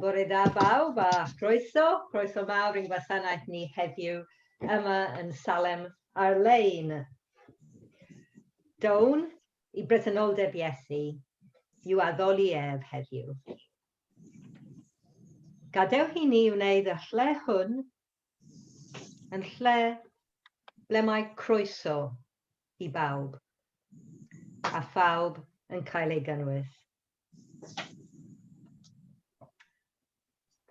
Bore da bawb a chroeso, chroeso mawr i'n gwasanaeth ni heddiw yma yn Salem ar-lein. Down i bresenoldeb Iesu yw addoli ef heddiw. Gadewch i ni wneud y lle hwn Yn lle ble mae croeso i bawb, a phawb yn cael ei gynnwys.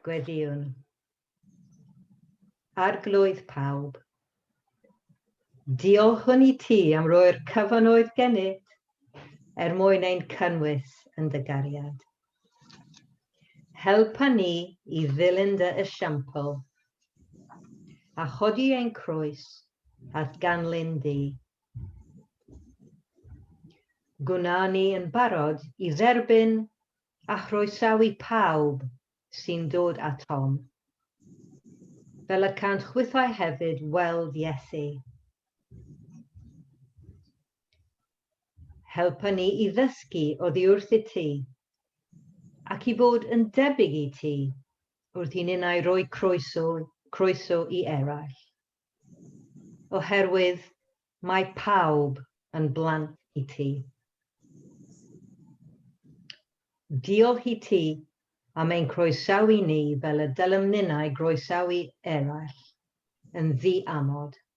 Gweddïwn. Arglwydd pawb, Diolchwn i ti am roi'r cyfanoedd gennyt er mwyn ein cynnwys yn dy gariad. Helpa ni i ddilyn dy esiampl, a chodi ein croes at ganlyn di. Gwna ni yn barod i dderbyn a chroesawu pawb sy'n dod atom, fel y cant chwithau hefyd weld Iesu. Helpa ni i ddysgu oddiwrth i Ti, ac i fod yn debyg i Ti, wrth i ninnau roi croeso, croeso i eraill. Oherwydd mae pawb yn blant i Ti. Diolch i Ti am ein croesawu ni fel y dylem ninnau groesawu eraill, yn ddi-amod.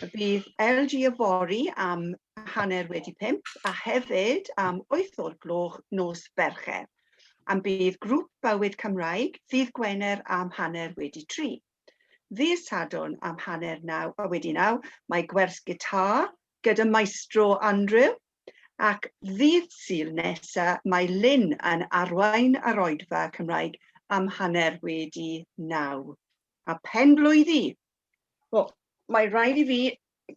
Bydd LG yfory am hanner wedi pimp a hefyd am wyth o'r gloch nos Fercher. Am bydd grŵp bywyd Cymraeg ddydd Gwener am hanner wedi tri. Ddydd Sadwrn am hanner naw a wedi naw mae gwers gitar gyda maestro Andrew ac ddydd Sul nesa mae Lynn yn arwain ar oedfa Cymraeg am hanner wedi naw. A pen blwyddi Wel, mae rhaid i fi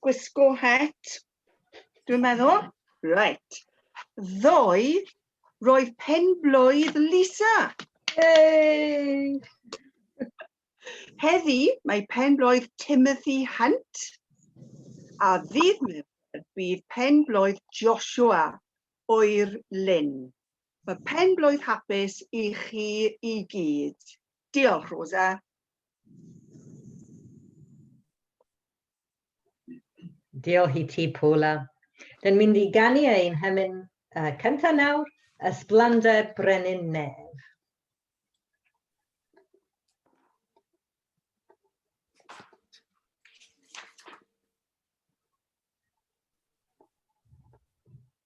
gwisgo het, dwi'n meddwl. Right. Ddoe, roedd pen blwydd Lisa. Yay! Heddi, mae pen blwydd Timothy Hunt. A ddydd mewn bydd pen blwydd Joshua oer Lynn. Mae pen blwydd hapus i chi i gyd. Diolch, Rosa. Diolch i ti, Paula. Dyn mynd i ganu ein hymyn uh, cyntaf nawr, Ysblander Brenin Nef.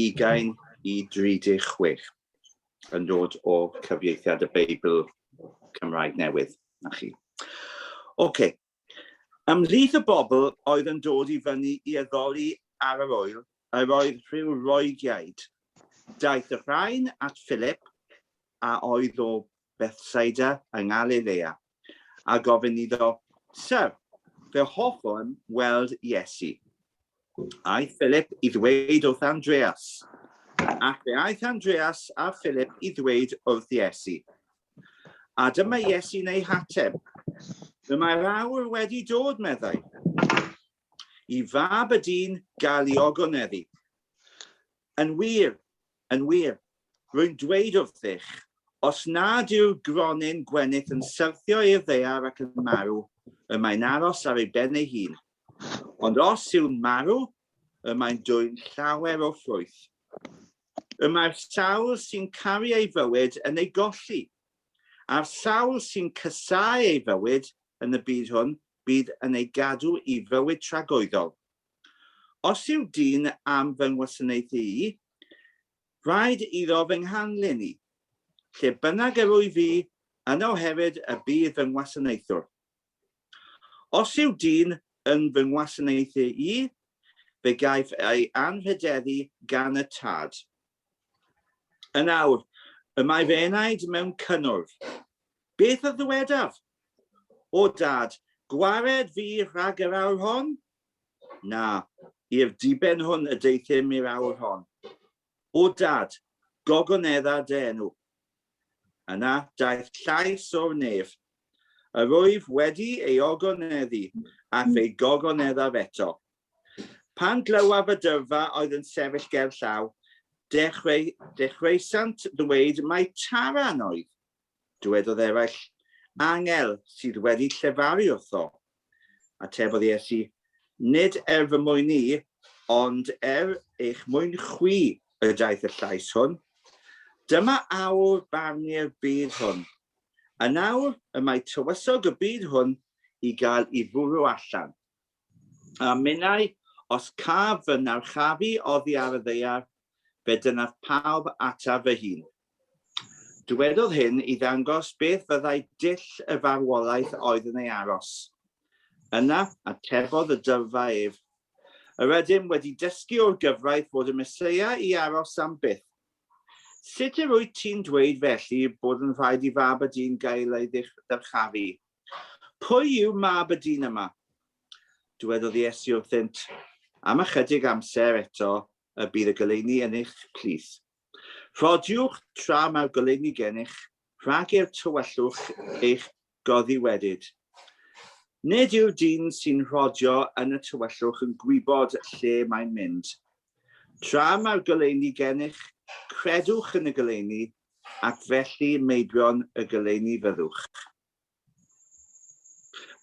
20 i 36 yn dod o cyfieithiad y Beibl Cymraeg Newydd, na chi. OK. Ymhlith y bobl oedd yn dod i fyny i addoli ar yr oel, yr oedd rhyw Loegiaid. Daeth y rhain at Philip, a oedd o Bethsaida yng Ngalilea, a gofyn iddo, Syr, fe hoffwn weld Iesu. Aeth Philip i ddweud wrth Andreas, ac fe aeth Andreas a Philip i ddweud wrth Iesu. A dyma Iesu neu hateb. Fe mae'r awr wedi dod, meddai. I fab y dyn gael ei ogoneddu. Yn wir, Yn wir, rwy'n dweud wrthych, os nad yw gronyn gwenith yn syrthio i'r ddaear ac yn marw, y mae'n aros ar ei ben ei hun. Ond os yw'n marw, y mae'n dwyn llawer o ffrwyth. Y mae'r sawl sy'n caru ei fywyd yn ei golli, a'r sawl sy'n casáu ei fywyd yn y byd hwn, bydd yn ei gadw i fywyd tragoeddol. Os yw dyn am fy ngwasanaeth i, rhaid iddo fy nghanlyn i. Lle bynnag yr wyf fi, yno hefyd y bydd fy ngwasanaethwr. Os yw dyn yn fy ngwasanaeth i, fe gaiff ei anrhydeddu gan y tad. Yn awr, y mae fy enaid mewn cynnwrf. Beth a ddywedaf? O Dad, gwared fi rhag yr awr hon? Na, i'r diben hwn y deuthum i'r awr hon. O Dad, gogonedda dy enw. Yna daeth llais o'r nef. Yr wyf wedi ei ogoneddu, a fe gogoneddaf eto. Pan glywaf y dyrfa oedd yn sefyll gerllaw, dechreu, dechreuasant ddweud mai Taran oedd. Dywedodd eraill, Angel sydd wedi llefaru wrtho. Atebodd Iesu, Nid er fy mwyn i, ond er eich mwyn chwi y daeth y llais hwn. Dyma awr barnu'r byd hwn. Yn awr y mae tywysog y byd hwn i gael i fwrw allan. A minnau, os caf fy narchafu oddi ar y ddaear, fe dynnaf pawb ataf fy hun. Dywedodd hyn i ddangos beth fyddai dull y farwolaeth oedd yn ei aros. Yna, atebodd y dyrfa ef, Yr ydym wedi dysgu o'r gyfraith fod y Meseia i aros am byth. Sut yr wyt ti'n dweud felly bod yn rhaid i fab y dyn gael ei ddyrchafu? Pwy yw mab y dyn yma? Dywedodd Iesu wrthynt, Am ychydig amser eto y bydd y goleuni yn eich plith. Rhodiwch tra mae'r goleuni gennych, rhag i'r tywyllwch eich goddi wedyd. Nid yw'r dyn sy'n rhodio yn y tywyllwch yn gwybod lle mae'n mynd. Tra mae'r goleuni gennych, credwch yn y goleuni, ac felly meibion y goleuni fyddwch.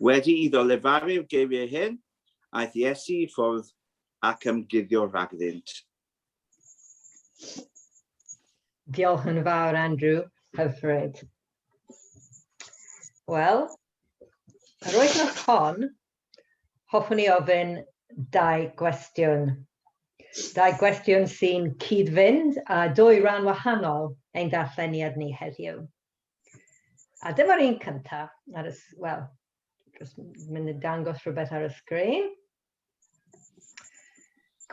Wedi iddo lefaru'r geiriau hyn, aeth Iesu i ffwrdd ac ymguddio rhagddynt. Diolch yn fawr, Andrew. Hyfryd. Wel, yr wythnos hon, hoffwn i ofyn dau gwestiwn. Dau gwestiwn sy'n cyd-fynd a dwy ran wahanol ein darlleniad ni heddiw. A dyma'r un cyntaf, ar y, wel, mynd i dangos rhywbeth ar y sgrin.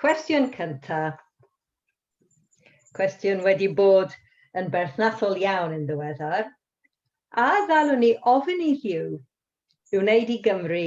Cwestiwn cyntaf. Cwestiwn wedi bod yn berthnasol iawn yn ddiweddar. A ddalwn ni ofyn i Hugh i wneud i Gymru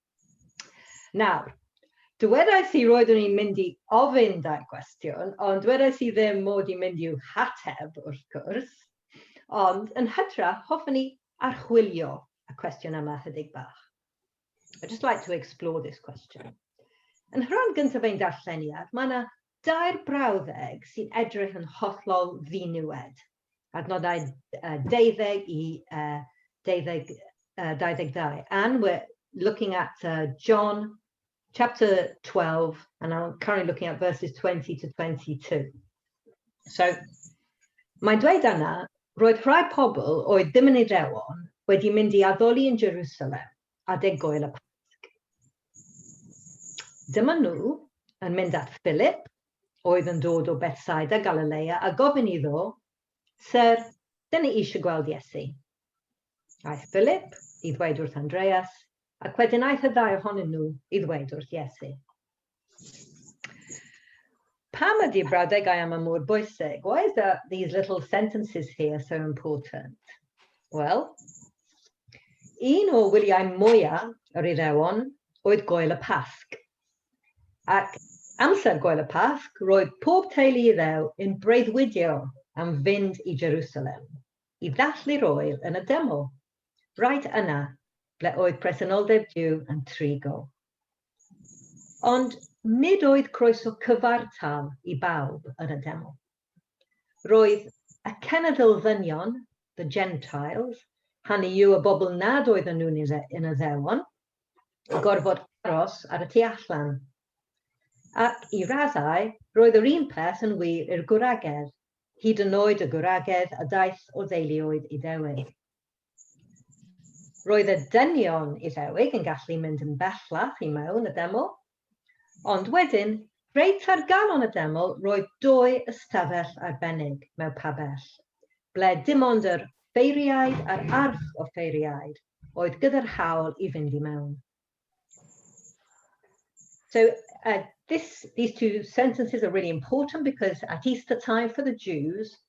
Nawr, dywedais i roeddwn i'n mynd i ofyn dau gwestiwn, ond dywedais i ddim mod i'n mynd i'w hateb, wrth gwrs. Ond, yn hytrach, hoffwn i archwilio y cwestiwn yma hydig bach. I'd just like to explore this question. Yn rhan gyntaf ein darlleniad, mae yna dair brawddeg sy'n edrych yn hollol ddiniwed. adnoddau 20 i uh, 20, uh, 22. And we're looking at uh, John chapter 12, and I'm currently looking at verses 20 to 22. So, mae'n dweud yna, roedd rhai pobl oedd ddim yn ei rewon wedi mynd i addoli yn Jerusalem a deg goel y Pasg. Dyma nhw yn mynd at Philip oedd yn dod o Bethsaida Galilea a gofyn iddo, Syr, dyn ni eisiau gweld Iesu. Aeth Philip i ddweud wrth Andreas, ac wedyn aeth y ddau ohonyn nhw i ddweud wrth Iesu. Pam ydy brawdegau am y mor bwysig? Why is that these little sentences here so important? Wel, un o wyliau mwyaf yr Iddewon oedd goel y Pasg, Ac amser gwael y Pasg roedd pob teulu Iddew yn breuddwydio am fynd i Jerusalem i ddathlu'r Oel yn y deml, right yna ble oedd presenoldeb Duw yn trigo. Ond nid oedd croeso cyfartal i bawb yn y deml. Roedd y cenedl ddynion, the Gentiles, hynny yw y bobl nad oedden nhw'n yn Iddewon, yn gorfod aros ar y tu allan. Ac i raddau, roedd yr un peth yn wir i'r gwragedd, hyd yn oed y gwragedd a daeth o ddeuluoedd Iddewig. Roedd y dynion Iddewig yn gallu mynd yn bellach i mewn y deml, ond wedyn, reit ar galon y deml roedd dou ystafell arbennig mewn pabell, ble dim ond yr offeiriaid a'r arch-offeiriaid oedd gyda'r hawl i fynd i mewn. So uh, this, these two sentences are really important because at Easter time for the Jews,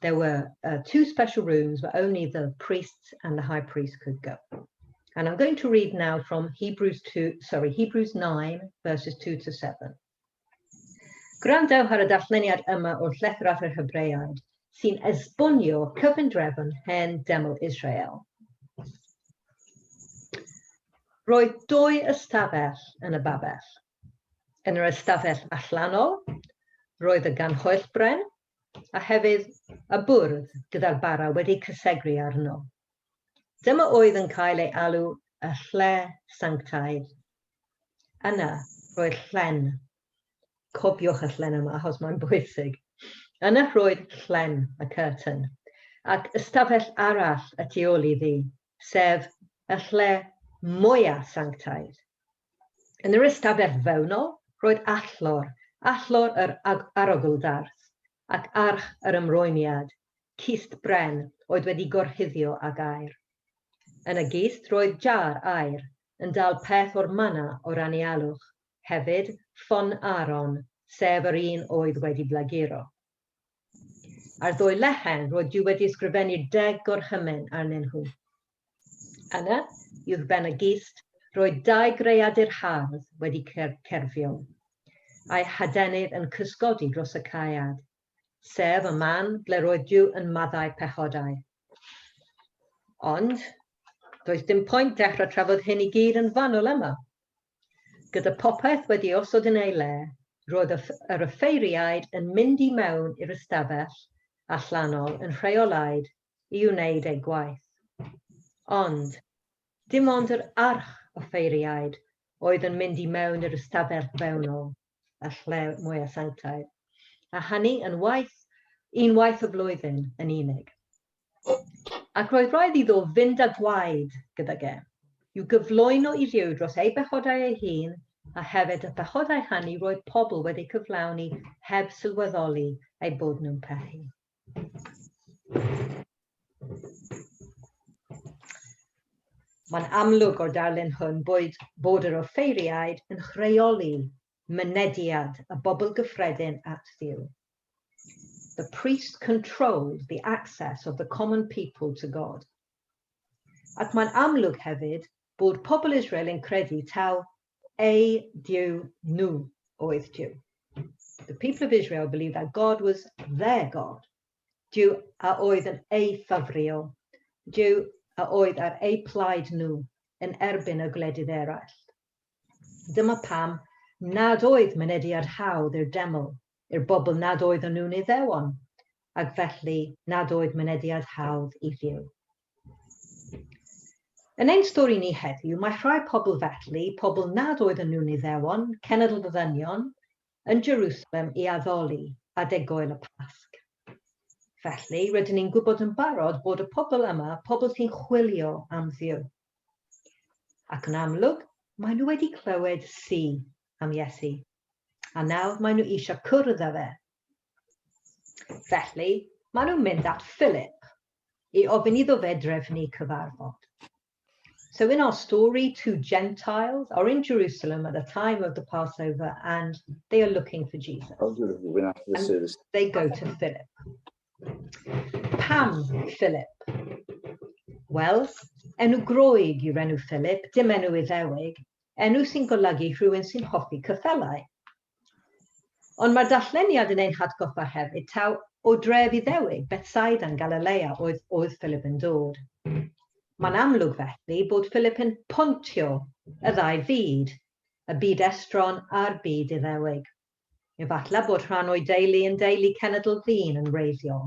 there were uh, two special rooms where only the priests and the high priest could go. And I'm going to read now from Hebrews 2, sorry, Hebrews 9, verses 2 to 7. Gwrandewch ar y darlleniad yma o'r llethr at yr Hebreaid sy'n esbonio cyfundrefn hen deml Israel. Roedd dwy ystafell yn y babell. Yn yr ystafell allanol, roedd y ganhoellbren a hefyd y bwrdd gyda'r bara wedi cysegru arno. Dyma oedd yn cael ei alw y lle sanctaidd. Yna, roedd llen. Cofiwch y llen yma, achos mae'n bwysig. Yna roedd llen y curtain, ac ystafell arall y tu ôl iddi, sef y lle mwyaf sanctaidd. Yn yr ystafell fewnol roedd allor, allor yr arogl-ddarth, ac arch yr ymrwymiad, cist bren oedd wedi gorchuddio ag aer. Yn y gist roedd jar aer, yn dal peth o'r mana o'r anialwch, hefyd, ffon Aaron, sef yr un oedd wedi blaguro. Ar ddwy lechen roedd Duw wedi ysgrifennu deg gorchymyn arnyn nhw. Yna, uwch ben y gist, roedd dau greadur hardd wedi cerfio, a'i hadenydd yn cysgodi dros y caead, sef y man ble roedd Duw yn maddau pechodau. Ond, does dim pwynt dechrau trafod hyn i gyd yn fanwl yma. Gyda phopeth wedi osod yn ei le, roedd yr offeiriaid yn mynd i mewn i'r ystafell allanol yn rheolaidd i wneud eu gwaith. Ond, dim ond yr arch-offeiriaid oedd yn mynd i mewn i'r ystafell fewnol. a lle mwyaf sanctaidd, a hynny yn waith, un waith y flwyddyn yn unig. Ac roedd rhaid iddo fynd â gwaed gyda ge, i'w gyflwyno i Dduw dros ei bechodau ei hun, a hefyd y pechodau hynny roedd pobl wedi cyflawni heb sylweddoli eu bod nhw'n pechu. Mae'n amlwg o'r darlun hwn bod, bod yr offeiriaid yn chreoli mynediad y bobl gyffredin at Dduw. The priest controlled the access of the common people to God. Ac mae'n amlwg hefyd bod pobl Israel yn credu taw eu Duw nhw oedd Duw. The people of Israel believed that God was their God. Duw a oedd yn eu ffafrio. Duw a oedd ar eu plaid nhw yn erbyn y gwledydd eraill. Dyma pam nad oedd mynediad hawdd i'r deml, i'r bobl nad oedd yn nhw'n iddewon, ac felly nad oedd mynediad hawdd i Dduw. Yn ein stori ni heddiw, mae rhai pobl felly, pobl nad oedden nhw'n Iddewon, cenedl y ddynion, yn Jerusalem i addoli adeg Goel y Pasg. Felly, rydyn ni'n gwybod yn barod bod y pobl yma, pobl sy'n chwilio am Dduw. Ac yn amlwg, maen nhw wedi clywed si am Iesu, a nawr maen nhw eisiau cwrdd â fe. Felly, maen nhw'n mynd at Philip, i ofyn iddo fe drefnu cyfarfod. So in our story, two Gentiles are in Jerusalem at the time of the Passover and they are looking for Jesus. Oh, and they go to Philip. Pam Philip? Well, enw groeg yw'r enw Philip, dim enw Iddewig, enw sy'n golygu rhywun sy'n hoffi cyffelau. Ond mae'r darlleniad yn ein hatgoffa hefyd taw o dref Iddewig, Bethsaida yn Galilea, oedd oedd Philip yn dod. Mae'n amlwg felly bod Philip yn pontio y ddau fyd, y byd estron a'r byd Iddewig. Efallai bod rhan o'i deulu yn deulu cenedl ddyn yn wreiddiol.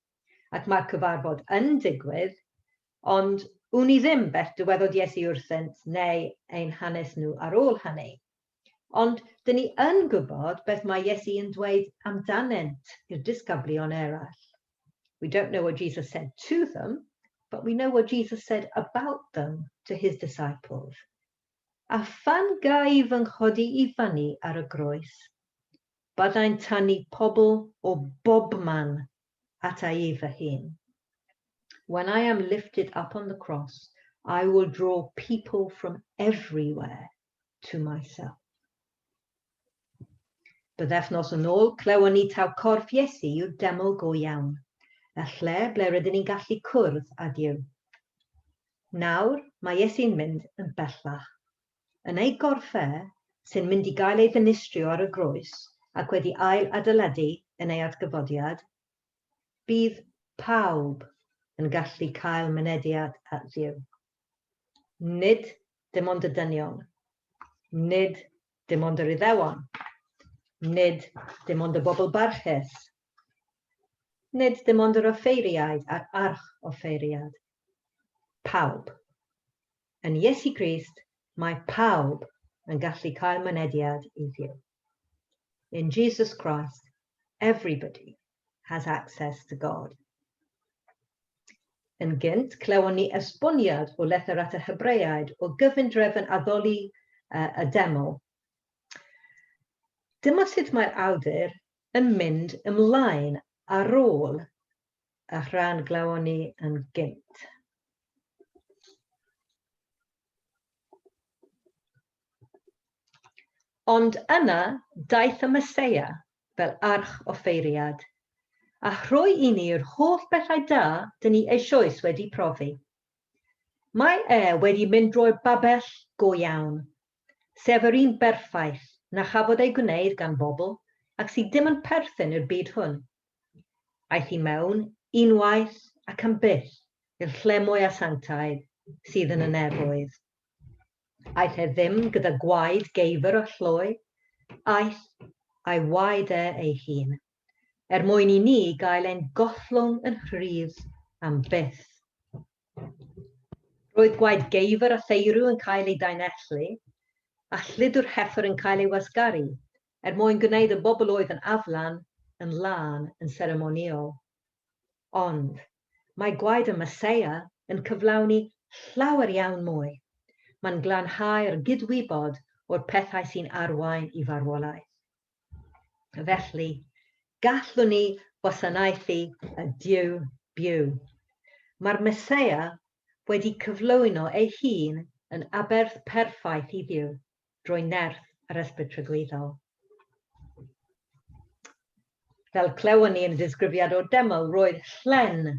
ac mae'r cyfarfod yn digwydd, ond wn i ddim beth dywedodd Iesu wrthynt neu ein hanes nhw ar ôl hynny. Ond dŷn ni yn gwybod beth mae Iesu yn dweud amdanynt i'r disgyblion eraill. We don't know what Jesus said to them, but we know what Jesus said about them to his disciples. A phan ga'i fy nghodi i fyny ar y groes, Byddai'n tynnu pobl o bobman at a i fy hun. When I am lifted up on the cross, I will draw people from everywhere to myself. Bythefnos yn ôl, clywon ni taw corff Iesu yw'r deml go iawn, y lle ble rydyn ni'n gallu cwrdd â Duw. Nawr, mae Iesu'n mynd yn bellach yn ei gorff e, sy'n mynd i gael ei ddinistrio ar y groes ac wedi ail adeiladu yn ei atgyfodiad, bydd pawb yn gallu cael mynediad at Dduw. Nid dim ond y dynion, nid dim ond yr Iddewon, nid dim ond y bobl barchus Nid dim ond yr offeiriaid a'r arch-offeiriad. Pawb. Yn Iesu Grist, mae pawb yn gallu cael mynediad i Dduw. In Jesus Christ, everybody has access to God. Yn gynt, clywon ni esboniad o lethr at y Hebreaid o gyfundrefn addoli uh, y deml. Dyma sut mae'r awdur yn mynd ymlaen ar ôl y rhan glawon ni yn gynt. Ond yna daeth y Meseia fel arch offeiriad, a rhoi i ni yr holl bethau da dyn ni eisioes wedi profi. Mae e wedi mynd drwy'r babell go iawn, sef yr un berffaith na chafodd ei gwneud gan bobl ac sydd dim yn perthyn i'r byd hwn. Aeth i mewn unwaith ac am byth i'r lle mwy asiantaidd sydd yn y nefoedd. Aeth e ddim gyda gwaed geifr a llwy, aeth a'i waed e ei hun, er mwyn i ni gael ein gollwng yn rhydd am byth. Roedd gwaed geifr a theirw yn cael eu daenellu, a chludwr hefr yn cael ei wasgaru, er mwyn gwneud y bobl oedd yn aflan yn lân yn seremonïol. Ond, mae gwaed y Meseia yn cyflawni llawer iawn mwy. Mae'n glanhau'r gydwybod o'r pethau sy'n arwain i farwolaeth. Felly, gallwn ni wasanaethu y Duw byw. Mae'r Meseia wedi cyflwyno ei hun yn aberth perffaith i Dduw drwy nerth yr Ysbryd Tragwyddol. Fel clywon ni yn y disgrifiad o'r deml, roedd llen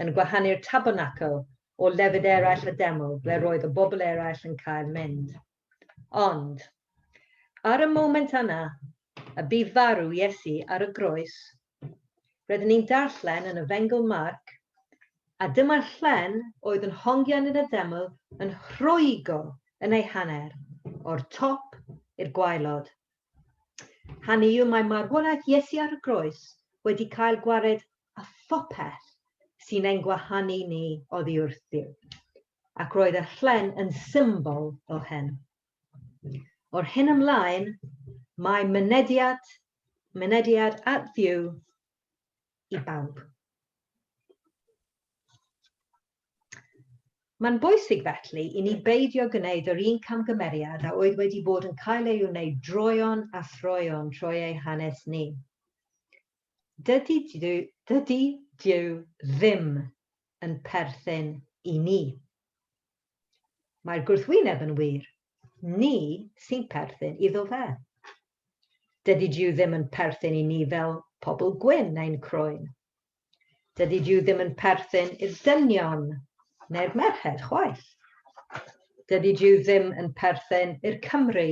yn gwahanu'r tabernacl o lefydd eraill y deml ble roedd y bobl eraill yn cael mynd. Ond, ar y moment yna, y bu farw Iesu ar y groes, rydyn ni'n darllen yn y Fengl Marc, a dyma'r llen oedd yn hongian yn y deml yn rhwygo yn ei hanner, o'r top i'r gwaelod. Hynny yw, mae marwolaeth Iesu ar y groes wedi cael gwared â phopeth sy'n ein gwahanu ni oddi wrthyf. ac roedd y llen yn symbol o hen. O'r hyn ymlaen, mae mynediad, mynediad at Dduw i bawb. Mae'n bwysig felly i ni beidio gwneud yr un camgymeriad a oedd wedi bod yn cael ei wneud droeon a throeon trwy ei hanes ni. Dydy Dyw, dydy Dyw ddim yn perthyn i ni. Mae'r gwrthwyneb yn wir, ni sy'n perthyn iddo fe. Dydy Duw ddim yn perthyn i ni fel pobl gwyn neu'n croen. Dydy Duw ddim yn perthyn i'r dynion neu'r merched chwaith. Dydy Duw ddim yn perthyn i'r Cymry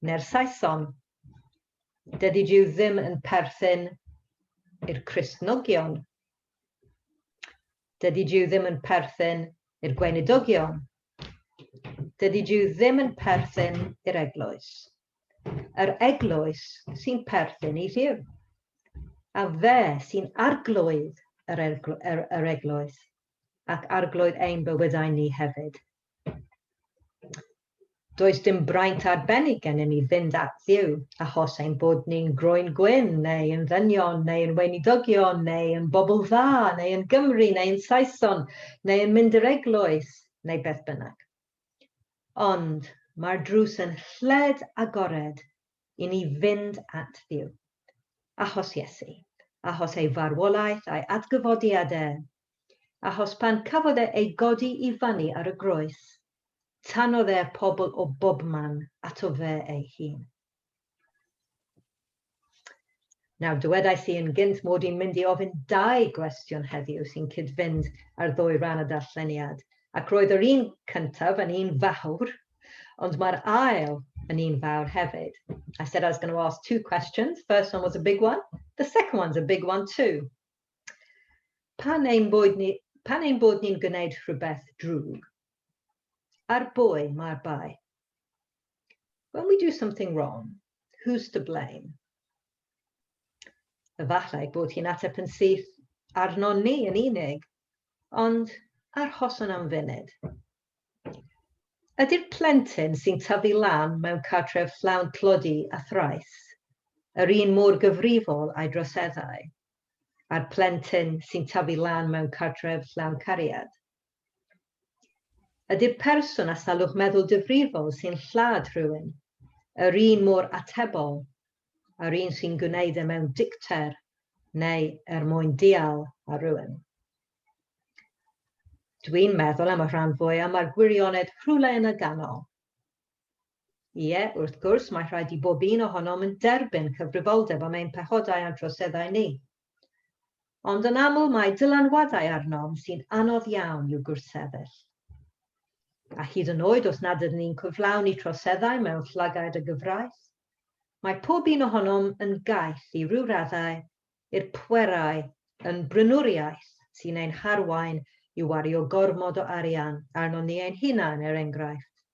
neu'r Saeson. Dydy Duw ddim yn perthyn i'r Cristnogion Dydy Duw ddim yn perthyn i'r gweinidogion. Dydy Duw ddim yn perthyn i'r eglwys. Yr eglwys sy'n perthyn i Dduw. A fe sy'n arglwydd yr, yr, yr eglwys ac arglwydd ein bywydau ni hefyd. Does dim braint arbennig gennym ni fynd at Dduw, achos ein bod ni'n groen gwyn, neu yn ddynion, neu yn weinidogion, neu yn bobl dda, neu yn Gymry, neu yn Saeson, neu yn mynd i'r eglwys, neu beth bynnag. Ond mae'r drws yn lled agored i ni fynd at Dduw. Achos Iesu, achos ei farwolaeth a'i atgyfodiad e, achos pan cafodd e ei godi i fanu ar y groes, tanodd e pobl o bobman ato fe ei hun. Nawr, dywedais i yn gynt mod i'n mynd i ofyn dau gwestiwn heddiw sy'n cyd-fynd â'r ddwy ran y darlleniad, ac roedd yr un cyntaf yn un fawr, ond mae'r ail yn un fawr hefyd. I said I was going to ask two questions. First one was a big one. The second one's a big one too. Pan ein bod ni, pan ein bod ni'n gwneud rhywbeth drwg, ar bwy mae'r bai? When we do something wrong, who's to blame? Efallai bod hi'n ateb yn syth arnon ni yn unig, ond arhoson am funud. Ydy'r plentyn sy'n tyfu lan mewn cartref llawn tlodi a thrais, yr un mor gyfrifol a'i droseddau a'r plentyn sy'n tyfu lan mewn cartref llawn cariad? Ydy'r person â salwch meddwl difrifol sy'n lladd rhywun yr un mor atebol â'r un sy'n gwneud e mewn dicter neu er mwyn dial ar rywun? Dwi'n meddwl am y rhan fwyaf mae'r gwirionedd rhywle yn y ganol. Ie, wrth gwrs, mae rhaid i bob un ohonom yn derbyn cyfrifoldeb am ein pechodau a'n troseddau ni. Ond yn aml mae dylanwadau arnom sy'n anodd iawn i'w gwrthsefyll. A hyd yn oed os nad ydyn ni'n cyflawni troseddau mewn llygaid y gyfraith, mae pob un ohonom yn gaeth i ryw raddau i'r pwerau yn brynwriaeth sy'n ein harwain i wario gormod o arian arnon ni ein hunain, er enghraifft.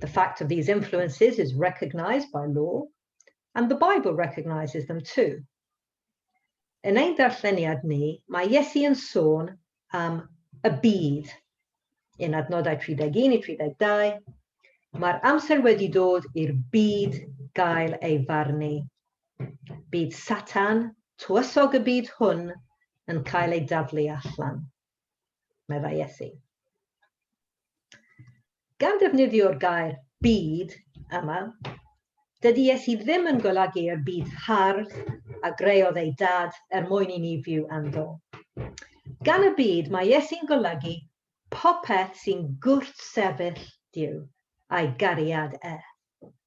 The fact of these influences is recognised by law, and the Bible recognises them too. Yn ein darlleniad ni, mae Iesu yn sôn am y bydd. Yn adnodau 31 i 32, mae'r amser wedi dod i'r byd gael ei farnu. Bydd Satan, tywysog y byd hwn, yn cael ei daflu allan. meddai Iesu. Gan ddefnyddio'r gair byd yma, dydy Iesu ddim yn golygu'r byd hardd a greodd ei dad er mwyn i ni fyw ynddo. Gan y byd mae Iesu'n golygu popeth sy'n gwrth sefyll Duw a'i gariad e.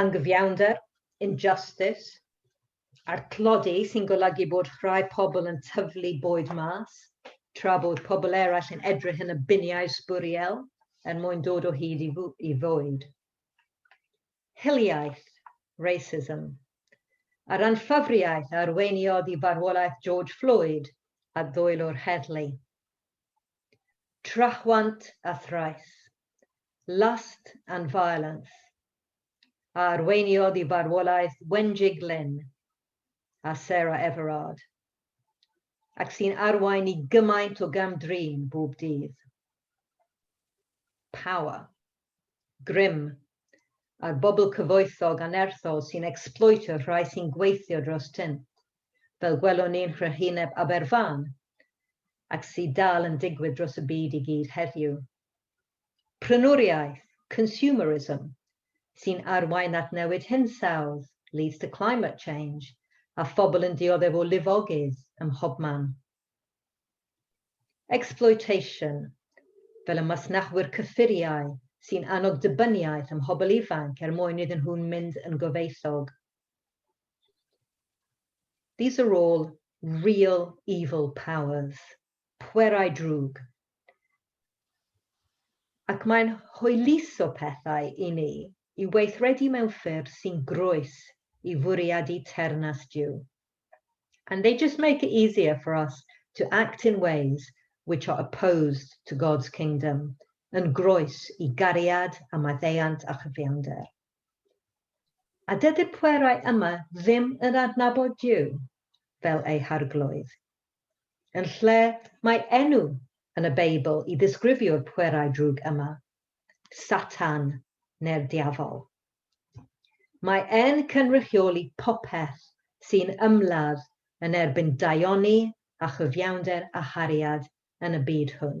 anghyfiawnder, injustice, a'r tlodi sy'n golygu bod rhai pobl yn tyflu bwyd mas, tra bod pobl eraill yn edrych yn y biniau sbwriel er mwyn dod o hyd i fwyd. Hiliaeth, racism, a'r anffafriaeth a arweiniodd i farwolaeth George Floyd a ddwylo'r heddlu. Trahwant a thraeth, Lust and Violence, a arweiniodd i farwolaeth Wenjie Glyn a Sarah Everard, ac sy'n arwain i gymaint o gam-drin bob dydd. Power, grym, a'r bobl cyfoethog annerthol sy'n ecsbloetio'r rhai sy'n gweithio dros tynn, fel gwelwn ni'n nhrychineb Aberfan, ac sydd dal yn digwydd dros y byd i gyd heddiw. prynwriaeth, consumerism, sy'n arwain at newid hinsawdd, leads to climate change, a phobl yn dioddef o lifogydd ym mhobman. Exploitation, fel y masnachwyr cyffuriau sy'n annog dibyniaeth ym mhobl ifanc er mwyn iddyn nhw mynd yn gyfoethog. These are all real evil powers. pwerau drwg. Ac mae'n hwyluso pethau i ni i weithredu mewn ffyrdd sy'n groes i fwriadu Teyrnas Duw. And they just make it easier for us to act in ways which are opposed to God's kingdom, yn groes i gariad a maddeuant a chyfiawnder. A dydy'r pwerau yma ddim yn adnabod Duw fel eu Harglwydd. Yn lle mae enw yn y Beibl i ddisgrifio'r pwerau drwg yma, Satan neu'r Diafol. Mae e'n cynrychioli popeth sy'n ymladd yn erbyn daioni a chyfiawnder a hariad yn y byd hwn.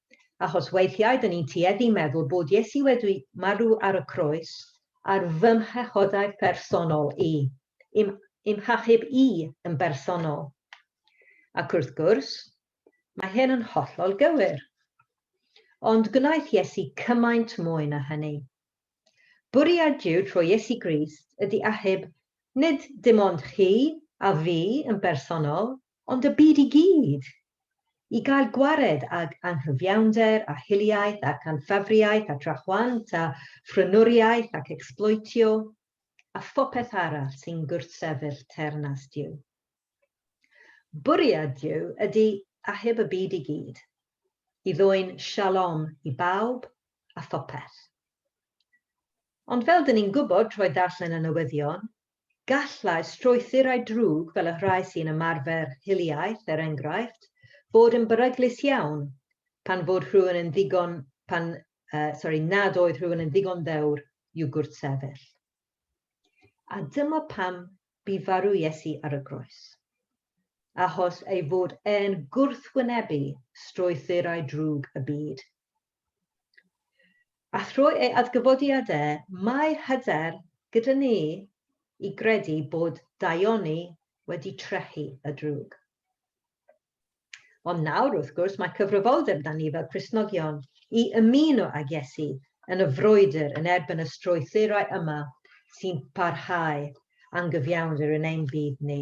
achos weithiau dŷn ni'n tueddu meddwl bod Iesu wedi marw ar y croes ar fy mhechodau phersonol i, i'm ymhachub i yn bersonol. Ac wrth gwrs, mae hyn yn hollol gywir. Ond gwnaeth Iesu cymaint mwy na hynny. Bwriad Duw trwy Iesu Grist ydy achub nid dim ond chi a fi yn bersonol, Ond y byd i gyd! I gael gwared ag anghyfiawnder a hiliaeth ac anffafriaeth a drachwant a phrynwriaeth ac ecsbloetio a phopeth arall sy'n gwrthsefyll teyrnas Duw. Bwriad Duw ydy achub y byd i gyd, i ddwyn shalom i bawb a phopeth. Ond fel 'dyn ni'n gwybod trwy ddarllen y newyddion, Gallai strwythurau drwg fel y rhai sy'n ymarfer hiliaeth, er enghraifft, fod yn beryglus iawn pan fod rhywun yn ddigon, pan, uh, sori, nad oedd rhywun yn ddigon ddewr i'w gwrthsefyll. A dyma pam bu farw Iesu ar y groes. Achos ei fod e'n gwrthwynebu strwythurau drwg y byd. A thrwy ei adgyfodiad e, mae hyder gyda ni i gredu bod daioni wedi trechu y drwg. Ond nawr, wrth gwrs, mae cyfrifoldeb 'da ni fel Cristnogion i ymuno ag Iesu yn y frwydr yn erbyn y strwythurau yma sy'n parhau angyfiawnder yn ein byd ni.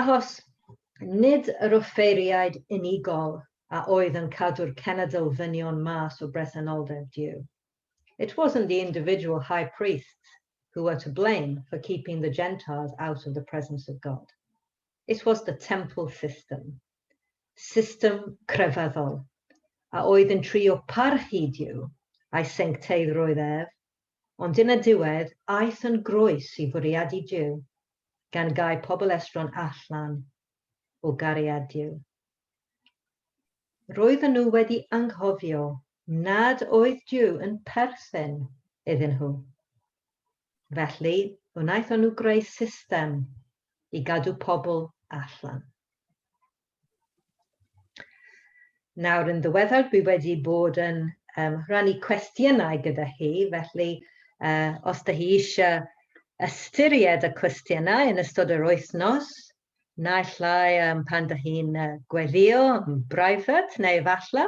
Achos nid yr offeiriaid unigol a oedd yn cadw'r cenedl ddynion mas o bresenoldeb Duw. It wasn't the individual high priests who were to blame for keeping the Gentiles out of the presence of God. It was the temple system, system crefyddol, a oedd yn trio parchu Duw a'i sencteiddrwydd ef ond yn y diwedd aeth yn groes i fwriadu Duw, gan gau pobl estron allan o gariad Duw. Roedden nhw wedi anghofio nad oedd Duw yn perthyn iddyn nhw. Felly, wnaethon nhw greu system i gadw pobl allan. Nawr, yn ddiweddar, dwi wedi bod yn um, rhannu cwestiynau gyda hi, felly uh, os da hi eisiau ystyried y cwestiynau yn ystod yr wythnos, naill lai um, pan da hi'n uh, gweddio yn brifat, neu efallai,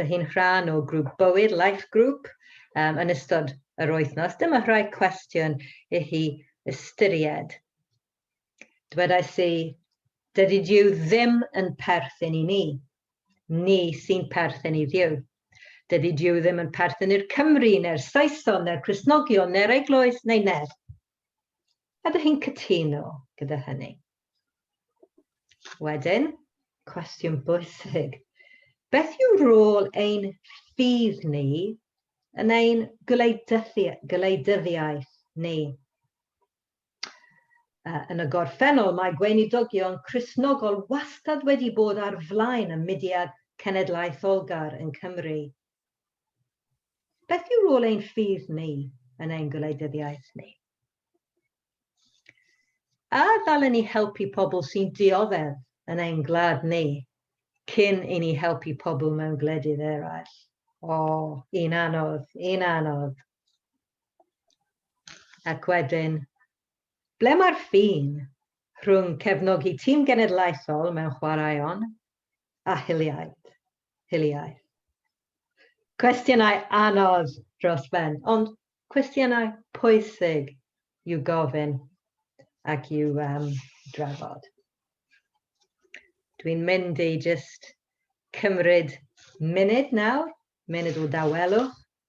da hi'n rhan o grŵp bywyd, life group, um, yn ystod yr wythnos. Dyma rhai cwestiwn i hi ystyried. Dwedais i, Dydy Duw ddim yn perthyn i ni. Ni sy'n perthyn i Dduw. Dydy Duw ddim yn perthyn i'r Cymry, neu'r Saeson, neu'r Cristnogion, neu'r Eglwys, neu neb. Ydych chi'n cytuno gyda hynny? Wedyn, cwestiwn bwysig. Beth yw rôl ein ffydd ni yn ein gwleidyddiaeth ni? Yn y gorffennol, mae Gweinidogion Cristnogol wastad wedi bod ar flaen y mudiad cenedlaetholgar yn Cymru. Beth yw rôl ein ffydd ni yn ein gwleidyddiaeth ni? A ddalen ni helpu pobl sy'n dioddef yn ein gwlad ni cyn i ni helpu pobl mewn gwledydd eraill? O, un anodd, un anodd. Ac wedyn, ble mae'r ffin rhwng cefnogi tîm genedlaethol mewn chwaraeon a hiliaeth? hiliaeth? Cwestiynau anodd dros ben, ond cwestiynau pwysig i'w gofyn ac i'w um, drafod. Dwi'n mynd i just cymryd munud nawr, munud o dawelwch,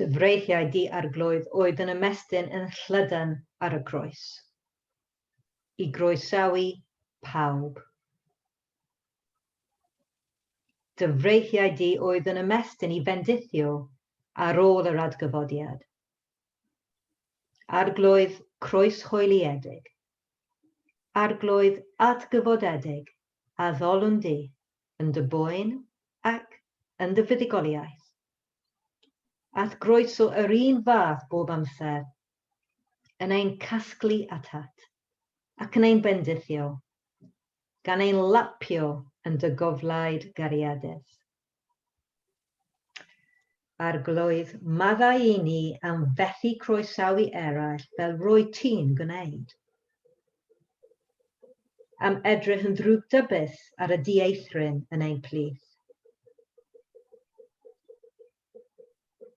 Dyfreithiau di-arglwydd oedd yn ymestyn yn llydan ar y groes, i groesawu pawb. Dyfreithiau di oedd yn ymestyn i fendithio ar ôl yr adgyfodiad. Arglwydd croeshoeliedig. Arglwydd adgyfodedig a ddolwn di yn dy boen ac yn dy fuddugoliaeth. At groeso yr un fath bob amser, yn ein casglu atat, ac yn ein bendithio, gan ein lapio yn dy goflaid gariadus. Arglwydd, maddau i ni am fethu croesawu eraill fel roedd ti'n gwneud. Am edrych yn ddrwgdybus ar y dieithryn yn ein plith.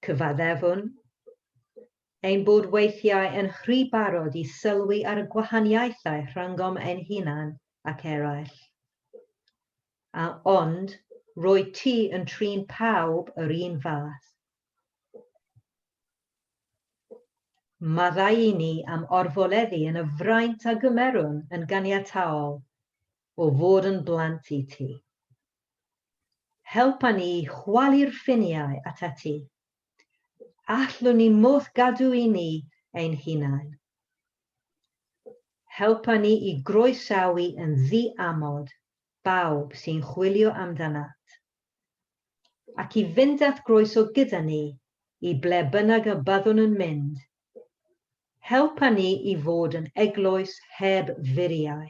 Cyfaddefwn ein bod weithiau yn rhy barod i sylwi ar y gwahaniaethau rhyngom ein hunan ac eraill. a ond roedd ti yn trin pawb yr un fath. Maddau i ni am orfoleddu yn y fraint a gymerwn yn ganiataol o fod yn blant i ti. Helpa ni i chwalu'r ffiniau at ati. Allwn ni moth gadw i ni ein hunain. Helpa ni i groesawu yn ddi amod bawb sy'n chwilio amdanat, ac i fynd at groeso gyda ni i ble bynnag y byddwn yn mynd. Helpa ni i fod yn eglwys heb furiau.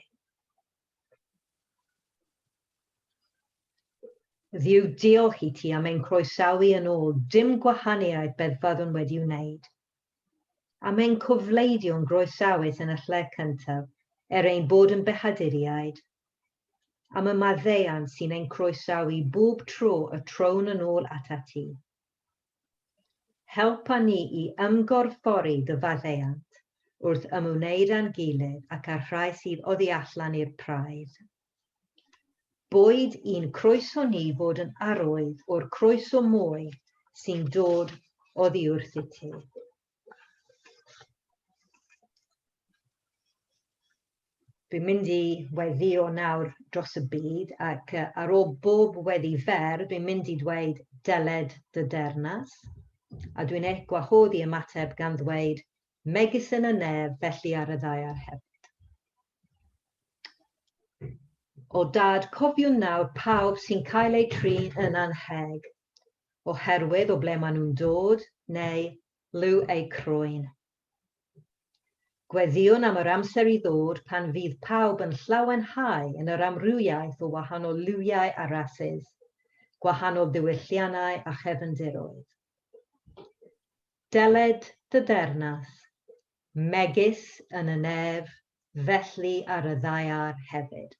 Dduw diolch i ti am ein croesawu yn ôl, dim gwahaniaeth beth fyddwn wedi wneud. Am ein cofleidio'n groesawus yn y lle cyntaf er ein bod yn Behaduriaid. Am y maddeuant sy'n ein croesawu bob tro y trown yn ôl atat ti. Helpa ni i ymgorffori dy faddeuant wrth ymwneud â'n gilydd ac â'r rhai sydd oddi allan i'r praidd. Boed i'n croeso ni fod yn arwydd o'r croeso mwy sy'n dod oddi wrth i ti. Dwi'n mynd i weddio nawr dros y byd ac uh, ar ôl bob weddi fer, dwi'n mynd i ddweud deled dy dernas. A dwi'n eich gwahodd i ymateb gan ddweud megis yn y nef felly ar y ddaear hefyd. O dad, cofiwn nawr pawb sy'n cael eu trin yn annheg, oherwydd o ble maen nhw'n dod, neu liw eu croen. Gweddïwn am yr amser i ddod pan fydd pawb yn llawenhau yn yr amrywiaeth o wahanol liwiau a rasus, gwahanol ddiwylliannau a chefndiroedd. Dyled dy ddeyrnas Megis yn y nef, felly ar y ddaear hefyd.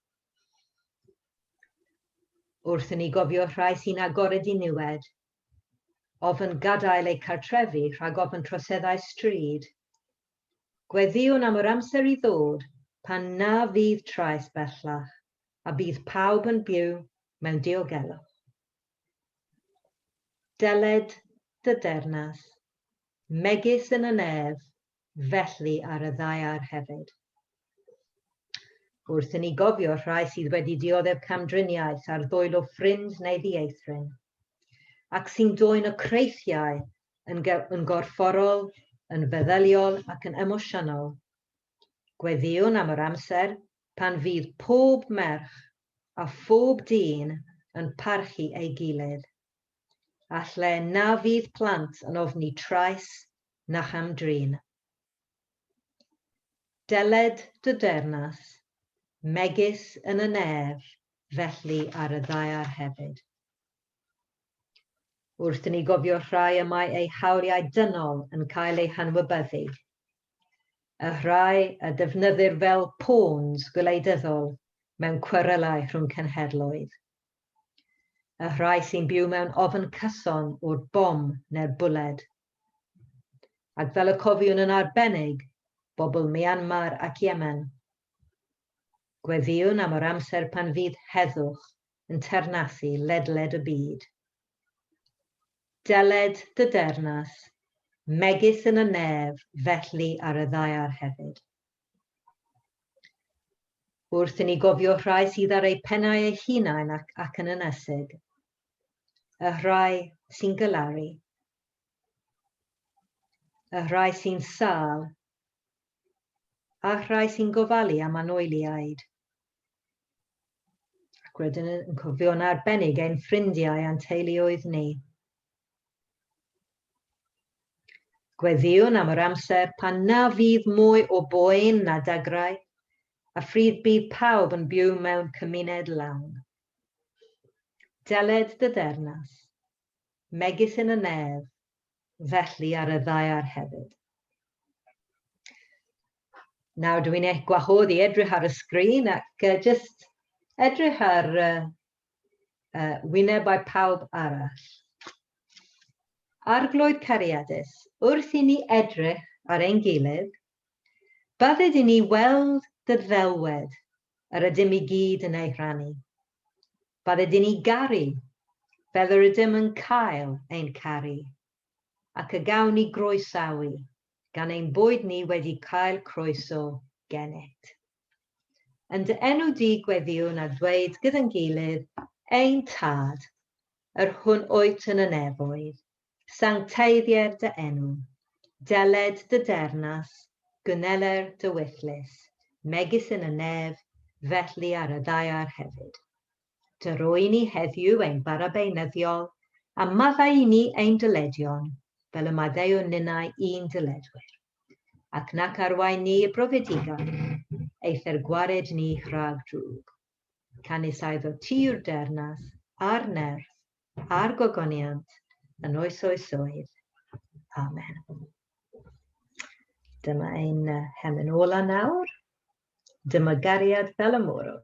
Wrth i ni gofio rhai sy'n agored i niwed, ofn gadael eu cartrefi rhag ofn troseddau stryd, gweddïwn am yr amser i ddod pan na fydd trais bellach a bydd pawb yn byw mewn diogelwch. Dyled dy dernas, megis yn y nef, felly ar y ddaear hefyd. Wrth i ni gofio rhai sydd wedi dioddef camdriniaeth ar ddwylo ffrind neu ddieithryn, ac sy'n dwyn y creithiau yn, yn gorfforol, yn feddyliol ac yn emosiynol, gweddïwn am yr amser pan fydd pob merch a phob dyn yn parchu ei gilydd. A lle na fydd plant yn ofni trais na cham-drin. Dyled dy deyrnas, megis yn y nef, felly ar y ddaear hefyd. Wrth i ni gofio rhai y mae eu hawliau dynol yn cael eu hanwybyddu, y rhai a defnyddir fel pawns gwleidyddol mewn cwerelau rhwng cenhedloedd, y rhai sy'n byw mewn ofn cyson o'r bom neu'r bwled, ac fel y cofiwn yn arbennig, bobl Myanmar ac Yemen. Gweddïwn am yr amser pan fydd heddwch yn ternasu ledled y byd. Dyled dy dernas, megis yn y nef, felly ar y ddaear hefyd. Wrth i ni gofio rhai sydd ar eu pennau eu hunain ac, ac yn ynesig, y rhai sy'n gylaru, y rhai sy'n sal, a rhai sy'n gofalu am anoeliaid, Ac wedyn yn cofio'n arbennig ein ffrindiau a'n teuluoedd ni. Gweddiwn am yr amser pan na fydd mwy o boen na dagrau, a phryd bydd pawb yn byw mewn cymuned lawn. Deled dy dernas, megis yn y nef, felly ar y ddaear hefyd. Nawr dw i'n eich gwahodd i edrych ar y sgrin ac uh, just edrych ar uh, uh, wynebau pawb arall. Arglwydd cariadus, wrth i ni edrych ar ein gilydd, bydded i ni weld dy ddelwedd yr ydym i gyd yn ei rhannu. Bad ydyn ni garu, fel yr ydym yn cael ein caru, ac y gawn ni groesawu gan ein bod ni wedi cael croeso genet. Yn dy enw di gweddiwn a dweud gyda'n gilydd, Ein Tad, yr hwn wyt yn y nefoedd, Sancteiddier dy enw, deled dy dernas, gynneler dy wyllys, megis yn y nef, felly ar y ddaear hefyd. Dy roi ni heddiw ein bara beunyddiol, a maddau i ni ein dyledion, fel y maddeuwn ninnau i'n dyledwyr. Ac nac arwain ni i brofedigaeth, eithr gwared ni rhag drwg. Canys aeddo ti yw'r dernas, a'r nerth, a'r gogoniant yn oes oes oedd. Amen. Dyma ein hemen ola nawr. Dyma gariad fel y môrwr.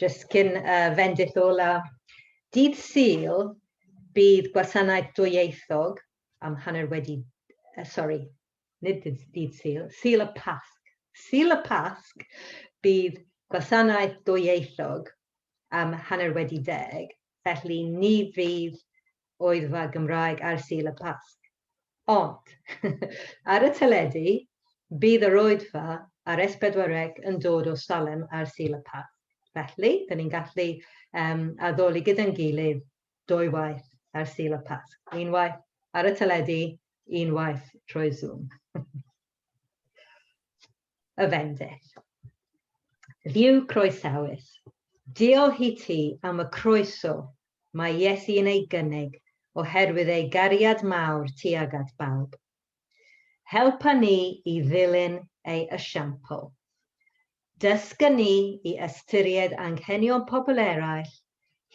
Jyst cyn uh, fendith ola. Dydd Sul, bydd gwasanaeth dwyieithog am hanner wedi, uh, sorry, nid dydd Sul, Sul y Pasg, Sul y Pasg, bydd gwasanaeth dwyieithog am hanner wedi deg, felly ni fydd oedfa Gymraeg ar Sul y Pasg. Ond, ar y teledu, bydd yr oedfa ar S4C yn dod o Salem ar Sul y Pasg. Felly, dyn ni'n gallu um, addoli gyda'n gilydd dwy waith ar Sul y Pasg, un waith ar y teledu, un waith trwy Zoom. y fendith. Ddiw croesawus, diolch i ti am y croeso mae Iesu yn ei gynnig oherwydd ei gariad mawr tuag at bawb. Helpa ni i ddilyn ei esiampl. Dysga ni i ystyried anghenion pobl eraill,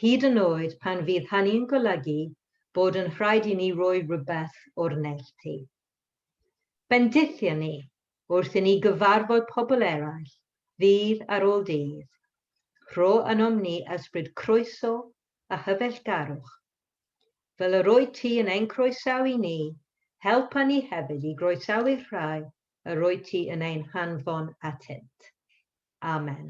hyd yn oed pan fydd hynny'n golygu bod yn rhaid i ni roi rhywbeth o'r neilltu. Bendithia ni wrth i ni gyfarfod pobl eraill ddydd ar ôl dydd. Rho ynom ni ysbryd croeso a hyfeillgarwch Fel yr wyt ti yn ein croesawu ni, helpa ni hefyd i groesawu'r rhai yr wyt ti yn ein hanfon atynt. Amen.